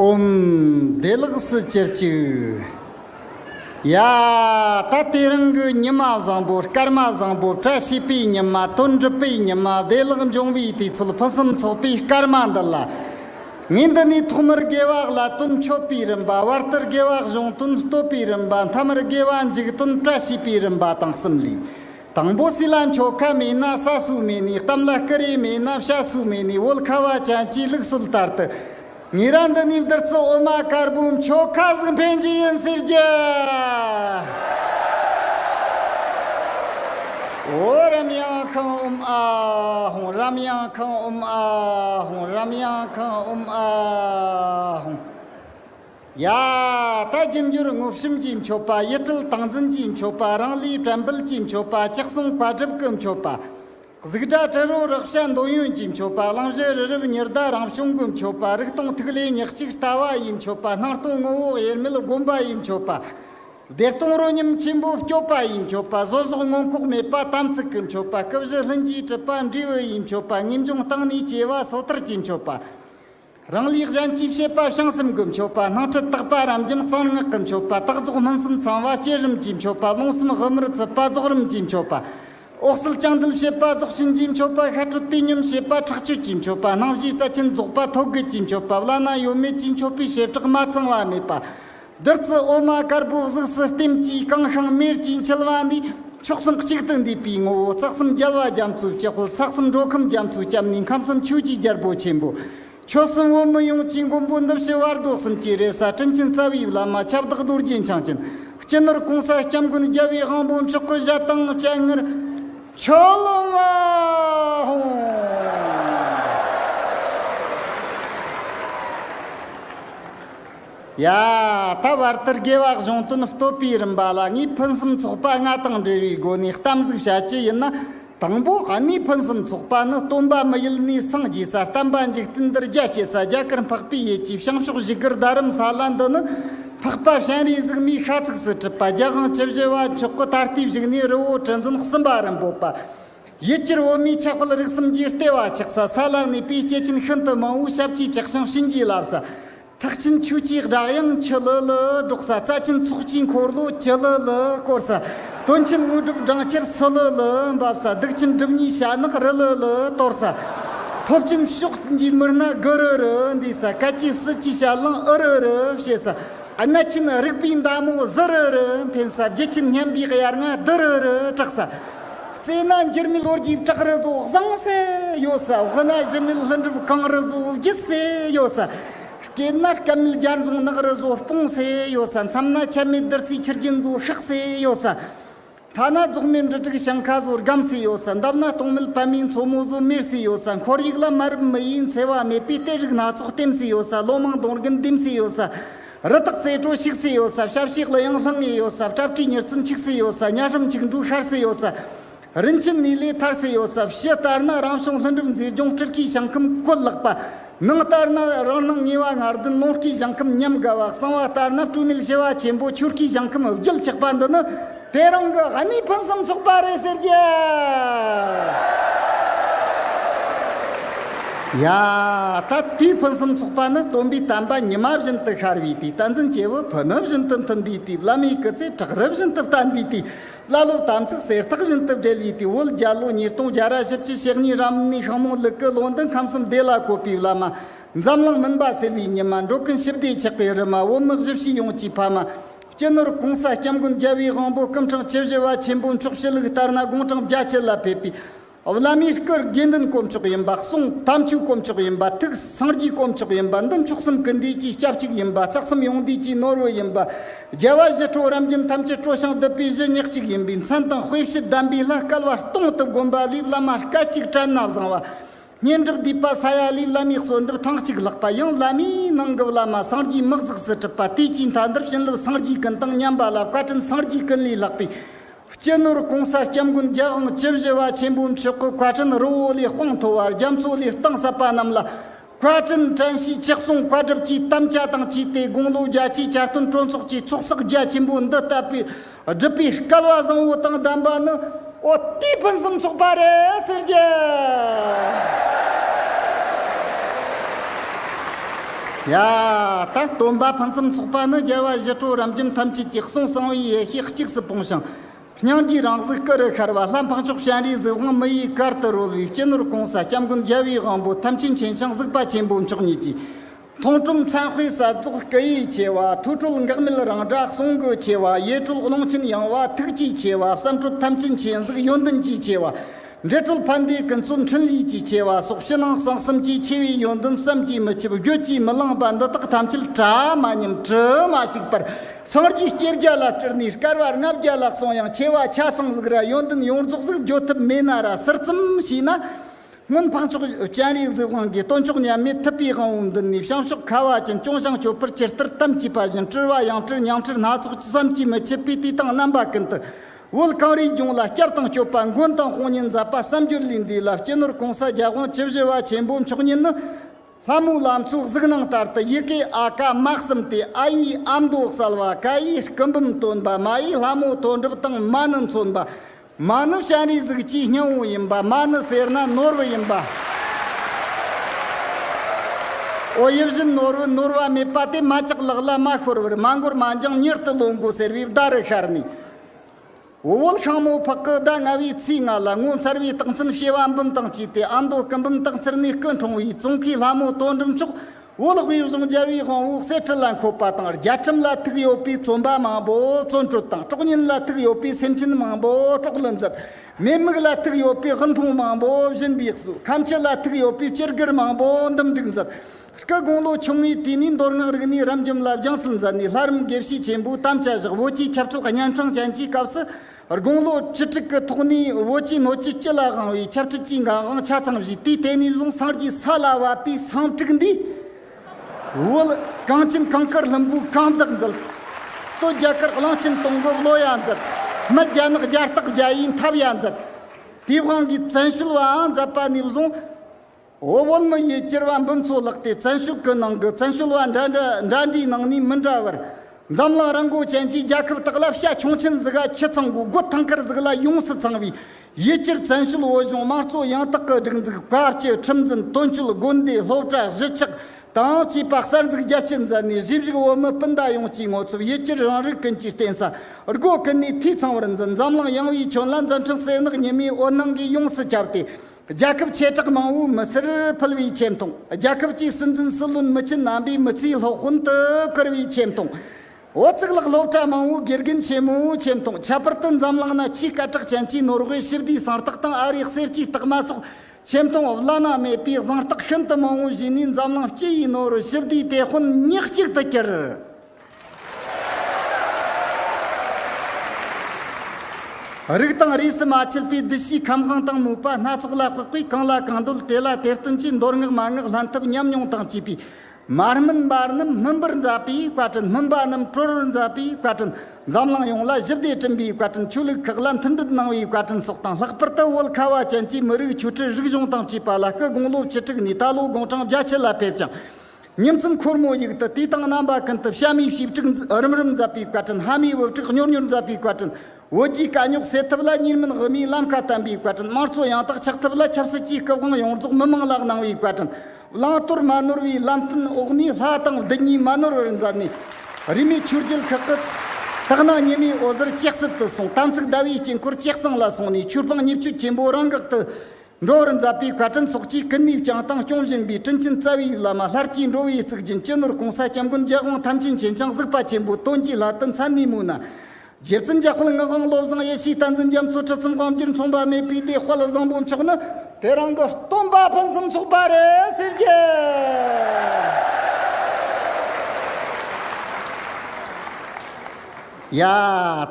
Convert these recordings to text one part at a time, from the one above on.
ཨུམ་བདེ་བླག་སུ་གྱུར་ཅིག། ཡ། ད་ལྟའི་རང་གི་ཉི་མ་བཟང་པོ་སྐར་མ་བཟང་པོ་བཀྲ་ཤིས་པའི་ཉི་མ་དོན་འགྲུབ་པའི་ཉི་མ་བདེ་བླག་འབྱུང་བའི་དུས་ཚོད་ཕུན་སུམ་ཚོགས་པའི་སྐར་མ་འདི་ལ། ངས་འདི་ནས་ཐོག་མར་དགེ་བ་ལ་དོན་མཆོད་པའི་རིམ་པ་བར་དུར་དགེ་བ་གཞུང་དོན་བསྟོད་པའི་རིམ་པ་མཐའ་མར་དགེ་བ་འཇུག་དོན་བཀྲ་ཤིས་པའི་རིམ་པ་དང་གསུམ་ལས། དང་པོ་སྲིད་ལ་མཆོག་ཁ་མེད་ན་ས་སུ་མེད་ནས་གཏམ་ལ་སྐུ་རེ་མེད་ན་བྱ་སུ་མེད་ནས་བོད་ཁ་བ་ཅན་གྱི་ལུགས་སྲོལ་ལྟར་དུ། ངེད་རང་འདི་ནས་བདུད་རྩི་འོ་མ་དཀར་པོའི་མཆོག་ཁ་གཟུགས་འཕེན་རྒྱུ་ཡིན་ཟེར་རྒྱུ། འོ་རམ་ཡང་ཁང་འོམ་ཨ་ཧོང་རམ་ཡང་ཁང་འོམ་ཨ་ཧོང་རམ་ཡང་ཁང་འོམ་ཨ་ཧོང། ཡ། ད་རྒྱུན་འགྱུར་རྔུབ་ཤུམ་གྱི་མཆོད་པ་ཡིད་སྤྲུལ་སྟངས་འཛིན་གྱི་མཆོད་པ་རང་ལུས་དྲན་འབུལ་གྱི་མཆོད་པ་ལྕགས་སྲུང་བཀའ་སྒྲུབ་ཀྱི་མཆོད་པ། གཟུགས་སྒྲ་དྲི་རོ་རེག་བྱ་འདོད་ཡོན་གྱི་མཆོད་པ་གླང་བཞི་རི་རབ་ཉི་ཟླ་རང་བྱུང་གི་མཆོད་པ་རིག་སྟོང་ཐིག་ལེ་ཉག་གཅིག་ལྟ་བ་ཡི་མཆོད་པ་སྣང་སྟོང་ངོ་བོ་དབྱེར་མེད་སྒོམ་པ་ཡི་མཆོད་པ། བདེ་སྟོང་རོ་སྙོམས་ཆེན་པོའི་སྐྱོབ་པ་ཡི་མཆོད་པ་བཟོད་གསོག་མངོན་ལྐོག་མེད་པ་དམ་ཚིག་གི་མཆོད་པ་སྐུ་བཞི་ལྷུན་གྱིས་གྲུབ་པ་འབྲས་བུ་ཡི་མཆོད་པ་ངེས་འབྱུང་རྟག་གནས་སྐྱེ་བ་སོ་ཐར་གྱི་མཆོད་པ། རང་ལུས་གཞན་གྱིས་བྱེད་པ་བྱང་སེམས་ཀྱི་མཆོད་པ་སྣང་ཁྲིད་རྟག་པ་རབ་འབྱམས་གསང་སྔགས་ཀྱི་མཆོད་པ་རྟག་རྫོགས་སྨིན་གསུམ་ཚང་བ་བསྐྱེད་རིམ་གྱི་མཆོད་པ་རླུང་སེམས་དབུ་མར་ཚུད་པ་རྫོགས་རིམ་གྱི་མཆོད་པ། འོག་སེལ་བཅིངས་འདུལ་བྱེད་པ་རྫོགས་ཆེན་གྱི་མཆོད་པ་ཤ་དྲོད་བསྟུད་སྙོམས་བྱེད་པ་ཁྲག་གཅོད་ཀྱི་མཆོད་པ་སྣང་བཞིའི་རྩ་ཆེན་རྫོགས་པ་ཐོད་རྒལ་གྱི་མཆོད་པ་བླ་ན་ཡོད་མེད་ཀྱི་མཆོད་པའི་བྱེ་བྲག་མ་ཚང་བ་མེད་པ། བདུད་རྩི་འོ་མ་དཀར་པོའི་གཟུགས་སུ་ལྟེམ་གྱིས་བཀང་ཞིང་མེར་གྱིས་འཁྱིལ་བ་འདིས་ཕྱོགས་གསུམ་གཅིག་ཏུ་འདུས་པའི་ངོ་བོ་རྩ་གསུམ་རྒྱལ་བ་རྒྱ་མཚོའི་སྤྱི་ཧོལ་ས་གསུམ་འགྲོ་ཁམས་རྒྱ་མཚོའི་སྐྱབས་གནས་ཁམས་གསུམ་ཆོས་ཀྱི་རྒྱལ་པོ་ཆེན་པོ། ཆོས་གསུམ་བོད་མི་ཡོངས་ཀྱི་མགོན་པོ་འདུམ་ཞི་བར་རྡོ་གསུམ་གྱི་རེ་ས་སྤྲིན་ཆེན་རྩ་བའི་བླ་མ་ཁྱབ་བདག་རྡོ་རྗེ་འཆང་ཆེན་སྤྱི་ནོར་གོང་ས་སྐྱབས་མགོན་རྒྱལ་བའི་དབང་པོ་མཆོག་གི་བཞད་གཏང་སྤྱན་སྔར་ཆོས་སློབ་མ་ཧཱུྃ། ཡ། ད་བར་དུ་དགེ་བ་གཞུང་དོན་བསྟོད་པའི་རིམ་པ་ལ་ངས་ཕུན་སུམ་ཚོགས་པ་ལྔ་དང་འབྲེལ་བའི་སྒོ་ནས་གཏམ་གཟིགས་བྱ་རྒྱུ་ཡིན་ན། དང་པོ་གནས་ཕུན་སུམ་ཚོགས་པ་ནི་སྟོན་པ་མི་ཡུལ་ནས་སངས་རྒྱས་སར་བལྟམས་པ་འཇིག་རྟེན་འདིར་རྒྱ་སྐྱེད་ས་རྒྱ་གར་འཕགས་པའི་ཡུལ་གྱི་བྱང་ཕྱོགས་བཞི་གུར་རྡ་རམ་ས་ལ་འདི་ནི། འཕགས་པ་གཤེན་རིའི་གཟུགས་མེད་ཤ་ཚུགས་སུ་བྲིས་པ་རྒྱ་དབང་བཅུ་བཞི་བ་མཆོག་གི་ད་ལྟའི་བཞུགས་གནས་རི་བོ་དྲི་འཛིན་གསུམ་པ་རིན་པོ་པ། ཡུལ་གྱར་བོད་མིའི་ཆགས་དཔལ་རིག་གསུམ་གྱི་ལྟེ་བ་ཆགས་ས་ས་ལར་གནས་པའི་སྐྱེས་ཆེན་ཤིན་ཏུ་མང་བོའི་ཞབས་ཀྱི་བཀྲག་ཤིང་བྱིན་གྱིས་བརླབས་ས། ཐག་ཆིན་ཆུ་སྐྱེས་སྦྲག་དབྱངས་ཆི་ལི་ལི་སྒྲོག་ས་རྩ་ཆེན་ཚོགས་སྤྱིའི་འཁོར་ལོ་ཅི་ལི་ལི་བསྐོར་ས། དོན་ཆེན་དངོས་གྲུབ་སྦྲང་ཆར་སི་ལི་ལི་འབབ་ས་སྡུག་ཆེན་སྒྲིབ་གཉིས་ཞྭ་ནག་རི་ལི་ལི་གཏོར་ས། ཐོབ་ཆེན་ཕྱོགས་འདིའི་མི་སྣ་དགུ་རུ་རུ་འདུས་ས་སྐད་ཅིག་སྲིད་ཀྱི་ཞལ་རླངས་ཨུ་རུ་རུ་བྱེད་ས། གནད་ཆེན་རིག་པའི་མདའ་མོ་ཟི་རུ་རུ་འཕེན་ས་བརྒྱུད་ཆེན་སྙན་པའི་དབྱར་རྔ་དི་རུ་རུ་གྲགས་ས། རྩེ་ན་འགྱུར་མེད་ལོ་རྒྱུས་བྲག་རི་བཟོ་བཟང་ཟེར་ཡོད་ས་དབུ་ན་གཞི་མེད་ལྷུན་གྲུབ་གངས་རི་བཟོ་རྒྱུད་ཟེར་ཡོད་ས། སྐེད་ན་སྐལ་མེད་རྒྱ་མཚོ་ནགས་རི་བཟོ་སྤུངས་ཟེར་ཡོད་ས་མཚམས་ན་ཆད་མེད་བདུད་རྩིའི་ཆུ་རྒྱུན་བཟོ་ཤག་ཟེར་ཡོད་ས། མཐའ་ན་རྫོགས་མེད་འབྲུ་དྲུག་ཞིང་ཁ་བཟོ་སྒམ་ཟེར་ཡོད་ས་འདབས་ན་སྟོང་མེད་བལ་མིའི་མཚོ་མོ་བཟོ་མེར་ཟེར་ཡོད་ས་འཁོར་ཡུག་ལ་མ་རབས་མི་ཡུལ་འཚེ་བ་མེད་པའི་གཏེར་རིགས་སྣ་ཚོགས་བསྟིམས་ཟེར་ཡོད་ས་ལོ་མང་དོང་རྒན་བསྡིམས་ཟེར་ཡོད་ས། རི་དྭགས་རྩེ་དྲོ་བཤིག་སྲིད་ཡོད་ས་ཞབས་ཕྱི་གླུ་དབྱངས་ལྷང་ངེ་ཡོད་ས་སྐྲ་བཀྲིས་མྱུར་ཚུལ་འཁྱིག་སྲིད་ཡོད་ས་གཉའ་ཧྲམ་འཁྱིག་འབྲུག་ཤར་སྲིད་ཡོད་ས། རིན་ཆེན་ནུས་ལས་ཐར་སྲིད་ཡོད་ས་ཕྱི་ལྟར་ན་རང་བྱུང་ལྷུན་གྲུབ་མཛེས་ལྗོངས་སྤྲུལ་སྐུའི་ཞིང་ཁམས་བཀོད་བརླག་པ། ནང་ལྟར་ན་རང་སྣང་ངེས་བ་ངར་ལྡན་ཀློང་སྐུའི་ཞིང་ཁམས་ཉམས་དགའ་བ་གསང་བ་ལྟར་ན་སྤྲོས་མེད་བྱེ་བ་ཆེན་པོ་ཆོས་སྐུའི་ཞིང་ཁམས་བརྒྱུད་ཆགས་པ་འདི་ནི། དེ་རང་གི་ཨ་ནི་ཕུན་སུམ་ཚོགས་པ་རེད་ཟེར་གྱི། ཡ། ད་དུས་ཕུན་སུམ་ཚོགས་པ་ནི་སྟོན་པའི་བསྟན་པ་ཉི་མ་བཞིན་དུ་ཤར་བའི་དུས་བསྟན་འཛིན་སྐྱེས་བུ་ཕུ་ནུ་བཞིན་དུ་མཐུན་པའི་དུས་བླ་མའི་སྐུ་ཚེ་བྲག་རི་བཞིན་དུ་བརྟན་པའི་དུས་བླ་སློབ་དམ་ཚིག་གསེར་ཐག་བཞིན་དུ་སྦྲེལ་བའི་དུས་བོད་རྒྱལ་ལོ་ཉིས་སྟོང་བརྒྱ་ར་བཞི་བཅུ་ཕྱེད་གཉིས་རབ་གནས་ཤིང་མོ་ལུག་གི་ལོ་འདི་ཁམས་གསུམ་བདེ་ལ་བཀོད་པའི་བླ་མ། འཛམ་གླིང་མུན་པ་སེལ་བའི་ཉི་མ་འགྲོ་ཀུན་ཞི་བདེའི་ཆགས་པའི་རི་མ་འོ་མི་བཞི་བྱིས་ཡོངས་ཀྱི་ཕ་མ། སྤྱི་ནོར ྋགོང་ས ྋསྐྱབས་མགོན་རྒྱལ་བའི་དབང་པོ ྋསྐུ་འཕྲེང་བཅུ་བཞི་བ་ཆེན་པོའི་མཆོག་སྤྱི་ལུགས་ལྟར་ན་དགུང་གྲངས་བརྒྱ་བཅུ་ལ་ཕེབས་པའི་བླ་མའི་སྐུར་དགེ་འདུན་དཀོན་མཆོག་ཡིན་པ་གསུང་དམ་ཆོས་དཀོན་མཆོག་ཡིན་པ་ཐུགས་སངས་རྒྱས་དཀོན་མཆོག་ཡིན་པ་འདི་མཆོག་གསུམ་སྐུ་འདས་ཀྱི་སྐྱབས་གཅིག་ཡིན་པ་རྩ་གསུམ་ཡོངས་འདུས་ཀྱི་ནོར་བུ་ཡིན་པ་རྒྱལ་བ་བཞི་ཁྲོ་རམ་བྱམས་ཐམས་ཅད་སྤྲོ་ཞིང་བསྡུ་བའི་གཞི་ཉག་གཅིག་ཡིན་པའི་མཚན་དང་དཔེ་བཞི་གདམས་པའི་ལྷ་སྐལ་བ་སྟོང་དུ་བསྒོམ་པ་ལས་བླ་མ་སྐད་ཅིག་དྲན་ན་བཟང་བ། སྙན་གྲགས་བསྡུས་པ་ས་ཡ་ལིའི་བླ་མའི་གསོལ་འདེབས་ཐེངས་གཅིག་ལྷག་པ་ཡང་བླ་མའི་ནང་གི་བླ་མ་སངས་རྒྱས་དམག་གཟུགས་སུ་གྲུབ་པ་དེ་སྤྱིའི་མཐའ་འདིར་བྱིན་རླབས་སངས་རྒྱས་ཀུན་དང་མཉམ་པ་ལ་བཀའ་དྲིན་སངས་རྒྱས་ཀུན་ལས་ལྷག་པའི་སྤྱི་ནོར་གོང་ས་སྐྱབས་མགོན་རྒྱལ་དབང་བཅུ་བཞི་བ་ཆེན་པོའི་མཆོད་བཀུར་བཀའ་དྲིན་རི་བོ་ལས་དཔངས་མཐོ་བ་རྒྱ་མཚོ་ལས་གཏིང་ཟབ་པ་རྣམས་ལ་བཀའ་དྲིན་དྲན་ཤིས་ཆིག་གསུང་བཀའ་སྒྲུབ་ཀྱི་དམ་བཅའ་དང་བཅས་ཏེ་དགུང་ལོ་བརྒྱ་ཆའི་བསྐྱར་སྟོན་གྲོས་ཚོགས་ཀྱི་ཚོགས་བསགས་རྒྱ་ཆེན་པོ་འདི་བསྟབས་པའི་སྒྲུབ་པའི་སྐལ་བ་བཟང་བོ་དང་ལྡན་པ་ནི་ཨོ་ཏི་ཕུན་སུམ་ཚོགས་པ་རེད་ཟེར་རྒྱུ། ཡ། ད་སྟོན་པ་ཕུན་སུམ་ཚོགས་པ་ནི་རྒྱལ་བ་ཞི་ཁྲོ་རབ་འབྱམས་ཐམས་ཅད་ཀྱི་གསུང་གསང་བའི་ཡེ་ཤེས་གཅིག་སུ་སྤུངས་ཤིང། སྙིང་རྗེའི་རང་གཟུགས་སྐུ་རུ་ཤར་བ་ལྷ་འཕགས་མཆོག་སྤྱན་རས་གཟིགས་དབང་མི་ཡི་གར་དུ་རོལ་བའི་སྤྱི་ནོར་གོང་ས་སྐྱབས་མགོན་རྒྱལ་བའི་དབང་པོ་ཐམས་ཅད་མཁྱེན་ཞིང་གཟིགས་པ་ཆེན་པོ་མཆོག་ཉིད་ཀྱིས། མཐོང་གྲུམ་མཚན་དཔེའི་ས་རྫོགས་སྐུ་ཡིས་ཕྱེ་བ་ཐུགས་གྲོལ་འགག་མེད་རང་སྒྲ་གསུང་སྒོས་ཕྱེ་བ་ཡེ་གྲོལ་ཀློང་ཆེན་ཡངས་བ་ཐུགས་ཀྱིས་ཕྱེ་བ་བསམ་གྲུབ་ཐམས་ཅད་མཁྱེན་གཟིགས་ཡོན་ཏན་གྱིས་ཕྱེ་བ། འབྲས་གྲོལ་ཕ་མཐའི་ཀུན་རྫོབ་འཕྲིན་ལས་ཀྱིས་ཕྱེ་བ་སོགས་ཕྱི་ནང་གསང་གསུམ་གྱིས་ཕྱེ་བའི་ཡོན་ཏན་བསམ་གྱིས་མི་ཁྱབ་བརྗོད་ཀྱིས་མི་ལངས་པ་འདི་དག་ཐམས་ཅད་བྲལ་མ་ཉམས་དྲིལ་མ་ཞིག་པར་སངས་རྒྱས་བསྐྱེད་བརྒྱ་ལ་སྤྲུལ་ནས་སྐལ་བ་ལྔ་བརྒྱ་ལ་སོང་ཡང་ཕྱེ་བ་ཆ་ཚང་གཟིགས་ར་ཡོན་ཏན་ཡོངས་རྫོགས་གཟིགས་བརྗོད་ཐུབ་མེད་ན་ར་གསེར་ཙམ་ཞིག་ན། སྔོན་འཕགས་མཆོག་སྤྱན་རས་གཟིགས་དབང་གིས་སྟོན་མཆོག་མཉམ་མེད་ཐུབ་པའི་དབང་བོ་འདི་ནི་བྱང་ཕྱོགས་ཁ་བ་ཅན་སྐྱོང་བྱང་ཆུབ་པར་སྤྱིར་ལྟར་གཏམ་གྱིས་པ་བཞིན་སྤྲུལ་བ་ཡང་སྤྲུལ་ཉང་ཁྲི་སྣ་ཚོགས་བསམ་གྱིས་མི་ཁྱབ་པའི་བསྟི་སྟང་རྣམ་པ་ཀུན་ཏུ། དབུལ་གང་རིགས་འབྱུང་ལ་སྐྱབས་དང་སྤྱོད་པ་མགོན་དང་དཔུང་གཉེན་མཛད་པ་བསམ་རྒྱུད་ལས་འདས་ལ་སྤྱི་ནོར་གོང་ས་རྒྱལ་དབང་བཅུ་བཞི་བ་ཆེན་པོའི་མཆོག་ཉིད་ནི། ལྷ་མོའི་ལམ་ཚོགས་གཟུགས་སྣང་ལྟར་དུ་ཡི་གེ་ཨ་ཀ་སྨྲ་གསུམ་སྟེ་ཨ་ཡིས་ཨ་མདོ་གསལ་བ་ཀ་ཡིས་སྐུ་འབུམ་སྟོན་པ་མ་ཡིས་ལྷ་མོའི་དོན་གྲུབ་དང་མ་ནི་མཚོན་པ། མ་ནི་སྤྱན་རས་གཟིགས་ཀྱི་སྙིང་བོ་ཡིན་པ་མ་ནི་སེར་སྣ་ནོར་བུ་ཡིན་པ། ཨོ་ཡིད་བཞིན་ནོར་བུ་ནོར་བ་མེད་པ་དེ་མ་ཅག་ལག་ལ་མ་ཤོར་བར་མ་འགོར་མ་འགྱངས་མྱུར་དུ་ལོངས་དགོས་ཟེར་བའི་བརྡ་རུ་ཤར་ནས། བུ་བོལ་ཤངས་མོ་ཕག་གི་ཟླ་ལྔ་བའི་ཚེས་ལྔ་ལ་ངོ་མཚར་བའི་རྟགས་མཚན་བྱེ་བ་འབུམ་དང་བཅས་ཏེ་ཨ་མདོ་སྐུ་འབུམ་རྟགས་མཚེར་གནས་སྐུ་འཁྲུངས་བའི་ཙོང་ཁའི་ལྷ་མོ་དོ་འགྲུབ་མཆོག་འོ་ལགས་པའི་གཞུང་རྒྱལ་བའི་དབང་བོའི་གསེར་ཁྲི་ལ་འཁོད་པ་དང་རྒྱལ་ཁྲིམས་ལ་ཐུག་ཡོད་པའི་བཙོན་པ་མང་པོ་བཙོན་གྲོལ་དང་གྲོགས་གཉེན་ལ་ཐུག་ཡོད་པའི་སེམས་ཅན་མང་པོ་གྲོགས་ལ་མཛད། མེད་དམིགས་ལ་ཐུག་ཡོད་པའི་དབུལ་ཕོངས་མང་པོ་གཞན་པའི་གསོས་ཁམས་སྤྱི་ལ་ཐུག་ཡོད་པའི་སྤྱིར་སྒེར་མང་པོ་འདུམ་འགྲིག་མཛད། སྐུ་དགུང་ལོ་ཆུང་ངུའི་དུས་ནས་མདོ་སྔགས་རིག་གནས་རབ་འབྱམས་ལ་སྦྱངས་སུ་མཛད་ནས་ལྷ་རིམ་དགེ་བཤེས་ཆེན་པོའི་དམ་བཅའ་བཞག་བོད་ཀྱི་ཆབ་སྲིད་གཉན་འཕྲང་ཅན་གྱི་སྐབས་སུ། དགུང་ལོ་བཅུ་དྲུག་གི་ཐོག་ནས་བོད་ཀྱི་སྣོད་བཅུད་སྤྱི་ལ་དབང་བའི་ཁྱབ་འཕྲལ་གྱི་འགན་དབང་ཆ་ཚང་བཞེས་ཏེ་དེ་ནས་བཟུང་སངས་རྒྱས་ས་ལ་བབས་པའི་སངས་དྲུག་འདི་བོད་གངས་ཅན་གངས་དཀར་ལྷུན་པོའི་གངས་བདག་མཛད། སྟོད་རྒྱལ་དཀར་གླིང་ཆེན་སྟོང་སྐོར་བློ་ཡང་མཛད། མི་རྒྱལ་ནག་རྒྱལ་སྟག་རྒྱལ་ཡིས་འཐབ་ཡང་མཛད། དེབ་དབང་གི་བཙན་བྱོལ་བའང་མཛད་པ་ནས་བཟུང་བོད་བོད་མི་ཡི་སྤྱིར་བ་འབུམ་ཚོ་ལགས་ཏེ་བཙན་ཤུགས་ཀྱི་ནང་གི་བཙན་བྱོལ་བ་འདྲ་འདྲ་འདྲ་འདྲའི་ནང་ནས་མི་འདྲ་བར། འཛམ་གླིང་རི་མགོ་ཅན་གྱི་རྒྱལ་ཁབ་དག་ལ་བྱ་ཁྱུང་ཆེན་གཟིགས་ཨ་ཁྱི་ཚང་གི་སྒོ་ཐང་ཁར་གཟིགས་ལ་ཡོངས་སུ་ཚང་བའི་ཡི་སྤྱིར་བཙན་བྱོལ་བོད་གཞུང་དམངས་གཙོ་ཡང་དག་གི་སྒྲིག་འཛུགས་སྐབས་ཀྱི་ཁྲིམས་འཛིན་དོན་གཅོད་དགོན་སྡེའི་སློབ་གྲྭ་གཞིས་ཆགས་དང་བཅས་པ་གསར་འཛུགས་རྒྱ་བསྐྱེད་མཛད་ནས་གཞིས་བཞུགས་བོད་མི་སྤུན་ཟླ་ཡོངས་ཀྱི་ངོ་ཚབ་ཡི་སྤྱིར་རང་རིགས་ཀུན་གྱི་རྟེན་ས་སྒོ་ཀུན་ནས་འཐུས་ཚང་བར་འཛིན་འཛམ་གླིང་ཡངས་བའི་ཁྱོན་ལ་མཛའ་མཐུན་གསལ་ནག་ཉི་མའི་འོད་སྣང་གིས་ཡོངས་སུ་ཁྱབ་སྟེ། རྒྱལ་ཁབ་ཆེ་གྲགས་མང་བོའི་མི་སེར་ཕུལ་བའི་ཆེ་མཐོང། རྒྱལ་ཁབ་ཀྱི་སྲིད་འཛིན་སྲིད་བློན་མི་ཆེན་རྣམ་པའི་མི་ཚེའི་སློབ་དཔོན་དུ་བཀུར་བའི་ཆེ་མཐོང། འོ་གཙུག་ལག་སློབ་གྲྭ་མང་བོའི་དགེ་རྒན་ཆེན་མོའི་ཆེ་མཐོང་ཁྱད་པར་དུ་འཛམ་གླིང་ན་ཆེས་སྐད་གྲགས་ཅན་གྱི་ནོར་ཝེ་ཞི་བདེའི་གཟེངས་རྟགས་དང་ཨ་རིའི་གསེར་གྱི་རྟགས་མ་སོགས་ཆེ་མཐོང་བླ་ན་མེད་པའི་གཟེངས་རྟགས་ཤིན་ཏུ་མང་བོ་བཞེས་ནས་འཛམ་གླིང་སྤྱི་ཡི་ནོར་ཝེ་ཞི་བདེའི་དེད་དཔོན་ཉག་གཅིག་ཏུ་གྱུར། རིགས་དང་རིས་སུ་མ་ཆད་པའི་བདུད་བཞིའི་ཁམས་དབང་དང་མོས་པ་སྣ་ཚོགས་ལ་དཔག་པས་གང་ལ་གང་འདོད་དེ་ལ་དེར་སྟོན་ཅིང་མདོར་བསྔགས་མ་བསྔགས་ལྷན་ཐབས་མཉམ་མྱོང་དང་བཅས་པའི་མར་སྨིན་པ་རྣམས་སྨིན་པར་མཛད་པའི་བཀའ་དྲིན་སྨིན་པ་རྣམས་སྤྲོ་བར་མཛད་པའི་བཀའ་དྲིན་འཛམ་གླིང་ཡོངས་ལ་བཞི་བདེ་སྐྲུན་པའི་བཀའ་དྲིན་ཆོས་ལུགས་ཁག་ལ་མཐུན་སྒྲིལ་གནང་བའི་བཀའ་དྲིན་སོགས་དང་ལྷག་པར་དུ་བོད་ཁ་བ་ཅན་གྱི་མི་རིགས་ཆོས་ཁྲི་རིག་གཞུང་དང་བཅས་པ་ལ་སྐུ་དགུང་ལོ་བཅུ་དྲུག་ནས་ད་ལོ་དགུང་གྲངས་བརྒྱ་ཕྱེད་ལ་ཕེབས་ཀྱང། སྙིང་གསུམ་འཁོར་མོ་ཡིག་ཏུ་བསྟི་སྟང་རྣམ་པ་ཀུན་ཏུ་ཞབས་མའི་ཞིབ་དཀྲུག་རིམ་རིམ་འཛབ་པའི་བཀའ་དྲིན་ལྷ་མིའི་དབུ་སྐྲག་མྱུར་མྱུར་འཛབ་པའི་བཀའ་དྲིན་བོད་རྒྱའི་དཀའ་རྙོག་སེལ་ཐབས་ལ་གཉིས་མིན་དབུ་མའི་ལམ་ཁ་བསྟན་པའི་བཀའ་དྲིན་དམངས་གཙོ་ཡང་དག་ཆགས་ཐབས་ལ་ཆབ་སྲིད་ཀྱི་སྐུ་དབང་ཡོངས་རྫོགས་མི་མང་ལ་གནང་བའི་བཀའ་དྲིན་བླང་དོར་མ་ནོར་བའི་ལམ་སྟོན་འོག་ནས་ལྷ་དང་བདུད་གཉིས་མ་ནོར་བར་མཛད་ནས་རིས་མེད་ཆོས་རྒྱལ་ཁག་གི་དག་སྣང་ཉི་མའི་འོད་ཟེར་གཅེས་གསལ་དུ་སོང་དམ་ཚིག་ཟླ་བའི་དཀྱིལ་འཁོར་གཅེས་གཙང་ལ་སོང་ནས་ཆོས་སྤང་ཉེར་སྤྱོད་ཆེན་པོ་རང་འགག་ཏུ་འགྲོ་བར་མཛད་པའི་བཀའ་དྲིན་སོགས་ཀྱིས་ཀུན་ནས་བསྐྱངས་དང་སྐྱོང་བཞིན་པའི་སྤྲིན་ཆེན་རྩ་བའི་ཡུལ་ལ་མ་ལྷར་སྐྱེས་འགྲོ་བའི་གཙུག་རྒྱན་སྤྱི་ནོར་གོང་ས་སྐྱབས་མགོན་རྒྱལ་དབང་ཐམས་ཅད་མཁྱེན་བྱང་གཟིགས་པ་ཆེན་པོ་སྟོན་གྱི་ལྷ་དུ་མཚན་ནས་མོ་ན། རྗེ་བཙུན་རྒྱལ་དཔལ་ངག་དབང་བློ་བཟང་ཡེ་ཤེས་བསྟན་འཛིན་རྒྱ་མཚོ་ཁྲི་གསུམ་དབང་བསྒྱུར་མཚུངས་པ་མེད་པའི་བདེ་དཔལ་བཟང་པོ་མཆོག་ནི། དེ་རང་གི་སྟོན་པ་ཕུན་སུམ་ཚོགས་པ་རེད་ཟེར་གྱི། ཡ།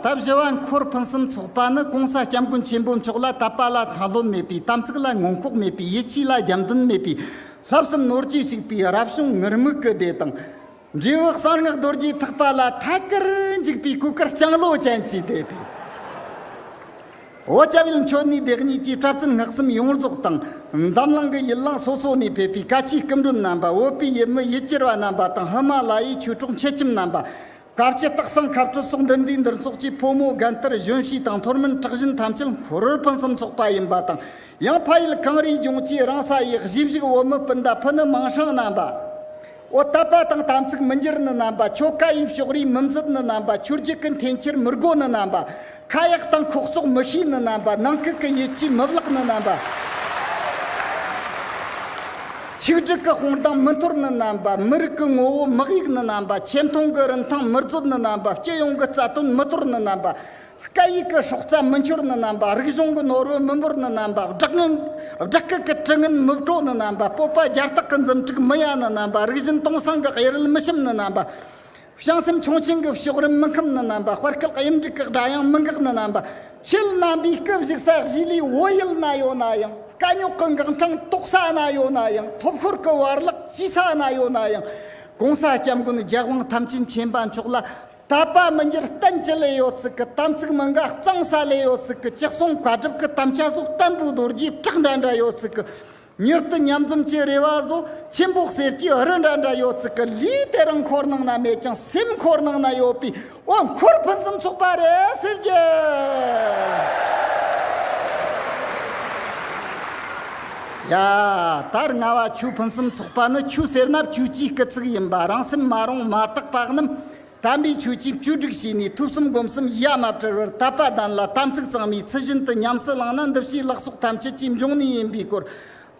ད་བཞི་བ་འཁོར་ཕུན་སུམ་ཚོགས་པ་ནི་གོང་ས་སྐྱབས་མགོན་ཆེན་པོ་མཆོག་ལ་དད་པ་ལ་མཐའ་ལྷོད་མེད་པའི་དམ་ཚིག་ལ་ངོ་འཁོག་མེད་པའི་ཡིད་ཆེས་ལ་རྒྱབ་མདུན་མེད་པའི་ལྷག་བསམ་ནོར་གྱིས་བྱུགས་པའི་རབ་བྱུང་ངུར་སྨུག་གི་སྡེ་དང། འབྲས་བུ་གསང་སྔགས་རྡོ་རྗེའི་ཐེག་པ་ལ་ཐད་ཀར་འཇུག་པའི་གོས་དཀར་ལྕང་ལོ་ཅན་གྱི་སྡེ་སྟེ། འོ་སྐྱབས་ཡུལ་མཆོད་གནས་སྡེ་གཉིས་ཀྱི་པྲ་ཚིལ་སྔགས་གསུམ་ཡོངས་རྫོགས་དང། འཛམ་གླིང་གི་ཡུལ་གླིང་སོ་སོ་ནས་ཕེབས་པའི་བཀའ་ཆོས་སྐུ་མགྲོན་རྣམ་པ་བོད་པའི་ཡུལ་མི་ཡུལ་གྱར་བ་རྣམ་པ་དང་ཧི་མ་ལ་ཡའི་ཆོས་གྲོགས་མཆེད་ཁྱིམ་རྣམ་པ། སྐབས་ཀྱི་སྟག་སང་མཁར་སྤྲུལ་སོགས་འདུ་འདུས་འདུར་ཚོགས་ཀྱིས་ཕོ་མོ་རྒན་གཏེར་གཞོན་ཞིང་དང་འཐོར་མིན་གྲགས་བཞིན་ཐམས་ཅད་མཁོ་རུལ་ཕུན་སུམ་ཚོགས་པ་ཡིན་པ་དང་ཡང་ཕ་ཡུལ་གངས་རིའི་ལྗོངས་ཀྱི་རང་ས་ཡི་གཞིས་བཞུགས་བོད་མི་སྤུན་ཟླ་ཕུ་ནུ་མིང་ཧྲང་རྣམ་པ། ཨོ་དད་པ་དང་དམ་ཚིག་མི་འགྱུར་ནི་རྣམ་པ། ཆོ་ག་དབྱིབས་ཕྱོགས་རིས་མི་འཛིན་ནི་རྣམ་པ། ཆུ་རྒྱུག་གི་འཐེན་འཁྱེར་མི་རྒོད་ནི་རྣམ་པ། ཁ་ཡག་དང་ཁོག་བཙོག་མི་ཤེས་ནི་རྣམ་པ་ནང་ཁུལ་གྱི་ཡིད་ཆེས་མི་བརླག་ནི་རྣམ་པ་ཆིག་སྒྲིག་གི་དཔུང་རྡང་མི་འཐོར་ནི་རྣམ་པ་མི་རིགས་ཀྱི་ངོ་བོ་མི་གཡུག་ནི་རྣམ་པ་ཆེ་མཐོང་གི་རིན་ཐང་མི་རྩོད་ནི་རྣམ་པ་སྤྱི་ཡོངས་ཀྱི་རྩ་དོན་མི་དོར་ནི་རྣམ་པ་སྐད་ཡིག་གི་སྲོག་རྩ་མི་འཆོར་ནི་རྣམ་པ་རིག་གཞུང་གི་ནོར་བུ་མི་འབོར་ནི་རྣམ་པ་སྦྲགས་ངན་སྦྲགས་སྐད་ཀྱི་དྲི་ངན་མི་བྲོ་ནི་རྣམ་པ་སྤོབས་པ་རྒྱ་སྟག་གི་འཛུམ་དྲུག་མི་ཡལ་ནི་རྣམ་པ་རིག་གཞུང་སྟོང་སངས་ཀྱི་གཡུ་རལ་མི་ཞིམ་ནི་རྣམ་པ། བྱང་སེམས་ཆུང་ཆེན་གྱི་ཕྱོགས་རིམ་མི་ཁམས་ནི་རྣམ་པ་དཔར་སྐད་དབྱིབས་འབྲི་སྐད་སྒྲ་དབྱངས་མི་འགག་ནི་རྣམ་པ་ཕྱེད་རྣམ་པའི་སྐུ་བཞུགས་ས་གཞི་ལས་འོད་ཡུལ་ན་ཡོད་ན་ཡང་དཀའ་རྙོག་གི་འགག་འཕྲང་རྟོགས་ས་ན་ཡོད་ན་ཡང་ཐོབ་ཤོར་གྱི་བར་གླགས་བཅོས་ས་ན་ཡོད་ན་ཡང་གོང་ས་སྐྱབས་མགོན་རྒྱལ་དབང་ཐམས་ཅད་མཁྱེན་པ་མཆོག་ལ་དད་པ་མི་འགྱུར་གཏན་གྱི་ལས་ཡོད་ཚིག་གི་དམ་ཚིག་མི་འགག་གཙང་ས་ལས་ཡོད་ཚིག་གི་ཅི་གསུང་བཀའ་སྒྲུབ་ཀྱི་དམ་བཅའ་སོགས་བསྟན་པའི་རྡོ་རྗེའི་བྲག་འདྲ་འདྲ་ཡོད་ཚིག་གི་མྱུར་དུ་མཉམ་འཛོམས་ཀྱི་རེ་བ་བཟོ། ཆེན་པོ་གསེར་གྱི་རི་འདྲ་འདྲ་ཡོད་ཚིག་གི་ལུས་དེ་རང་འཁོར་ནང་ན་མེད་ཀྱང་སེམས་འཁོར་ནང་ན་ཡོད་པའི་འོ་འཁོར་ཕུན་སུམ་ཚོགས་པ་རེད་ཟེར་རྒྱུ། ཡ། ད་རྔ་བ་ཆུ་ཕུན་སུམ་ཚོགས་པ་ནི་ཆུ་ཟེར་ན་བཅུ་གཅིག་གི་ཚིག་ཡིན་པ་རང་སེམས་མ་རུངས་མ་དག་པ་རྣམས། དམ་པའི་ཆོས་ཀྱི་བཅུ་དྲུག་ཞེས་ནས་ཐུགས་གསུམ་སྒོམ་གསུམ་གཞལ་མ་བྲལ་བར་དད་པ་ལྡན་ལ་དམ་ཚིག་གཙང་མའི་ཚུལ་བཞིན་དུ་ཉམས་སུ་བླངས་ན་འདུ་བྱེད་ལག་སོགས་ཐམས་ཅད་ཀྱི་འབྱུང་གནས་ཡིན་པའི་སྐོར།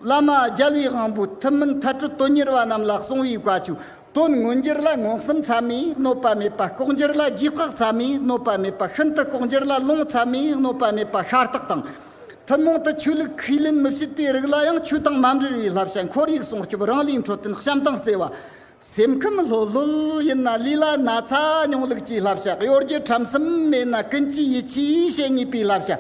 བླ་མ་རྒྱལ་བའི་དབང་པོ་ཐུན་མིན་མཐའ་སྤྲོད་དོན་གཉེར་བ་རྣམས་ལ་གསུང་བའི་བཀའ་ཆོས་དོན་མངོན་གྱུར་ལ་མངོན་སུམ་ཚད་མས་གནོད་པ་མེད་པ་ལྐོག་འགྱུར་ལ་རྗེས་དཔག་ཚད་མས་གནོད་པ་མེད་པ་ཤིན་ཏུ་ལྐོག་འགྱུར་ལ་ལུང་ཚད་མས་གནོད་པ་མེད་པ་ཤར་རྟགས་དང། ཐུན་མོང་དུ་ཆོས་ལུགས་ཁས་ལེན་མི་བྱེད་པའི་རིགས་ལ་ཡང་ཆོས་དང་མ་འབྲེལ་བའི་བསླབ་བྱ་འཁོར་ཡུག་སྲུང་སྐྱོབ་རང་ལས་འཕྲོ་བསྟེན་བྱམས་དང་བརྩེ་བ། སེམས་ཁམས་ལྷོད་ལྷོད་ཡིན་ན་ལུས་ལ་ན་ཚ་མྱོང་ལུགས་ཀྱི་བསླབ་བྱ་གཡོ་སྒྱུ་ཁྲམ་གསུམ་མེད་ན་ཀུན་གྱིས་ཡིད་ཆེས་བྱེད་ངེས་པའི་བསླབ་བྱ་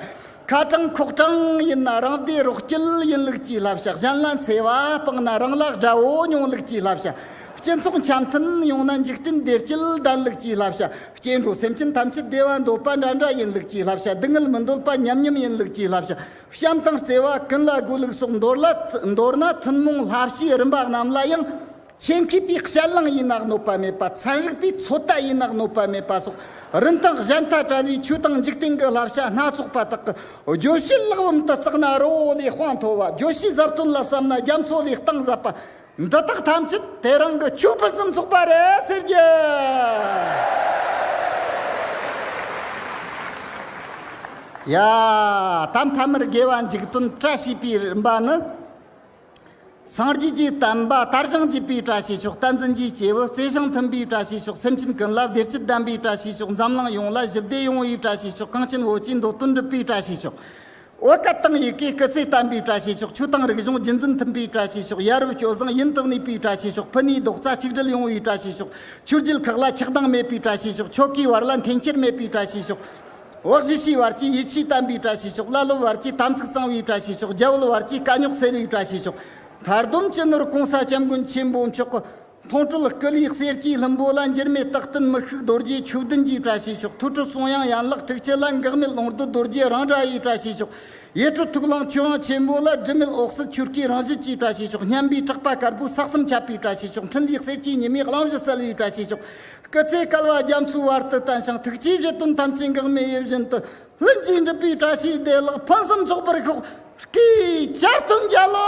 ཁ་གྲངས་ཁོག་གྲངས་ཡིན་ན་རང་བདེ་རོགས་སྐྱིད་ཡིན་ལུགས་ཀྱི་བསླབ་བྱ་གཞན་ལ་འཚེ་བ་སྤངས་ན་རང་ལ་དགྲ་བོ་མྱོང་ལུགས་ཀྱི་བསླབ་བྱ་སྤྱི་ཚོགས་འཆམ་མཐུན་ཡོང་ན་འཇིག་རྟེན་བདེ་སྐྱིད་ལྡན་ལུགས་ཀྱི་བསླབ་བྱ་སྐྱེ་འགྲོ་སེམས་ཅན་ཐམས་ཅད་བདེ་བ་འདོད་པ་འདྲ་འདྲ་ཡིན་ལུགས་ཀྱི་བསླབ་བྱ་སྡུག་བསྔལ་མི་འདོད་པ་མཉམ་མཉམ་ཡིན་ལུགས་ཀྱི་བསླབ་བྱ་བྱམས་དང་བརྩེ་བ་ཀུན་ལ་དགོས་ལུགས་སོགས་མདོར་ན་ཐུན་མོང་བསླབ་བྱའི་རིམ་པ་རྣམས་ལ་ཡང་ཆེས་མཁས་པའི་ཞལ་རླངས་ཡིན་ན་གནོད་པ་མེད་པ་ཚན་རིག་པའི་ཚོད་ལྟ་ཡིན་ན་གནོད་པ་མེད་པ་སོགས་རིན་ཐང་གཞན་ལྟར་བཀྲལ་བའི་ཆོས་དང་འཇིག་རྟེན་གྱི་བསླབ་བྱ་སྣ་ཚོགས་པ་དག་གི་བརྗོད་བྱའི་གླེགས་བམ་དུ་བརྩིགས་ན་རི་བོ་ལས་དཔངས་མཐོ་བ་བརྗོད་བྱའི་ཟབ་དོན་ལ་བསམ་ན་རྒྱ་མཚོ་ལས་གཏིང་ཟབ་པ་འདི་དག་ཐམས་ཅད་དེ་རང་གི་ཆོས་ཕུན་སུམ་ཚོགས་པ་རེད་ཟེར་རྒྱུ། ཡ། ད་མཐའ་མར་དགེ་བ་འཇིག་དོན་བཀྲ་ཤིས་པའི་རིམ་པ་ནི། སངས་རྒྱས་ཀྱི་བསྟན་པ་དར་ཞིང་རྒྱས་པའི་བཀྲ་ཤིས་ཤོག་བསྟན་འཛིན་གྱི་སྐྱེས་བུ་བརྩེ་ཞིང་མཐུན་པའི་བཀྲ་ཤིས་ཤོག་སེམས་ཅན་ཀུན་ལ་བདེ་སྐྱིད་ལྡན་པའི་བཀྲ་ཤིས་ཤོག་འཛམ་གླིང་ཡོངས་ལ་ཞི་བདེ་ཡོང་བའི་བཀྲ་ཤིས་ཤོག་གངས་ཅན་བོད་ཀྱི་མདོ་དོན་འགྲུབ་པའི་བཀྲ་ཤིས་ཤོག་བོད་སྐད་དང་ཡི་གེའི་སྐུ་ཚེ་བརྟན་པའི་བཀྲ་ཤིས་ཤོག་ཆོས་དང་རིག་གཞུང་རྒྱུན་འཛིན་མཐུན་པའི་བཀྲ་ཤིས་ཤོག་ཡ་རབས་སྐྱོ་བཟང་ཡུན་དུ་གནས་པའི་བཀྲ་ཤིས་ཤོག་ཕུ་ནུའི་རྡོག་རྩ་གཅིག་སྒྲིལ་ཡོང་བའི་བཀྲ་ཤིས་ཤོག་ཆོས་བརྒྱུད་ཁག་ལ་ཆགས་སྡང་མེད་པའི་བཀྲ་ཤིས་ཤོག་ཆོལ་ཁའི་བར་ལ་འཐེན་འཁྱེར་མེད་པའི་བཀྲ་ཤིས་ཤོག། འོག་བཞི་བྱི་བར་གྱི་ཡིད་ཆེས་དམ་པའི་གྲྭ་བྱས་ཆོག་བླ་སློབ་བར་གྱི་དམ་ཚིག་གཙང་བའི་གྲྭ་བྱས་ཆོག་རྒྱལ་བོད་བར་གྱི་དཀའ་རྙོག་སེལ་བའི་གྲྭ་བྱས་ཆོག་མཁར་སྡོམ་སྤྱི་ནོར་གོང་ས་སྐྱབས་མགོན་ཆེན་པོ་མཆོག་གི་མཐོང་གྲོལ་སྐུ་ལུས་གསེར་གྱི་ལྷུན་པོ་ལ་འགྱུར་མེད་རྟག་བརྟན་མི་ཤུགས་རྡོ་རྗེའི་ཆོས་བདུན་གྱི་གྲྭ་བྱས་ཆོག་ཐུགས་ཁྲོ་གསུང་དབྱངས་ཡན་ལག་དྲུག་ཅུ་ལ་འགག་མེད་ལོངས་སྡུད་རྡོ་རྗེ་རང་འདྲ་ཡི་གྲྭ་བྱས་ཆོག་ཡེ་གྲོལ་ཐུགས་ལངས་ཆོས་དབྱངས་ཆེན་པོ་ལ་སྒྲིབ་མེད་འོག་སྲིད་ཆོས་སྐུའི་རང་བཞིན་གྱི་གྲྭ་བྱས་ཆོག་སྙན་པའི་གྲགས་པ་དཀར་པོའི་ས་གསུམ་ཁྱབ་པའི་གྲྭ་བྱས་ཆོག་འཕྲིན་ལས་གསེར་གྱི་ཉི་མའི་གླིང་བཞི་གསལ་བའི་གྲྭ་བྱས་ཆོག་སྐུ་ཚེ་བསྐལ་བ་རྒྱ་མཚོའི་བར་དུ་བརྟན་ཞིང་ཐུགས་རྗེའི་བཞེད་དོན་ཐམས་ཅད་འགག་མེད་ཡིད་བཞིན་དུ་ལྷུན་གྱིས་འགྲུབ་པའི་བཀྲ་ཤིས་བདེ་བླག་ཕུན་སུམ་ཚོགས་པར་ཤོག་ཀྱེ་ཞལ་བསྟོད་མཇལ་ལོ།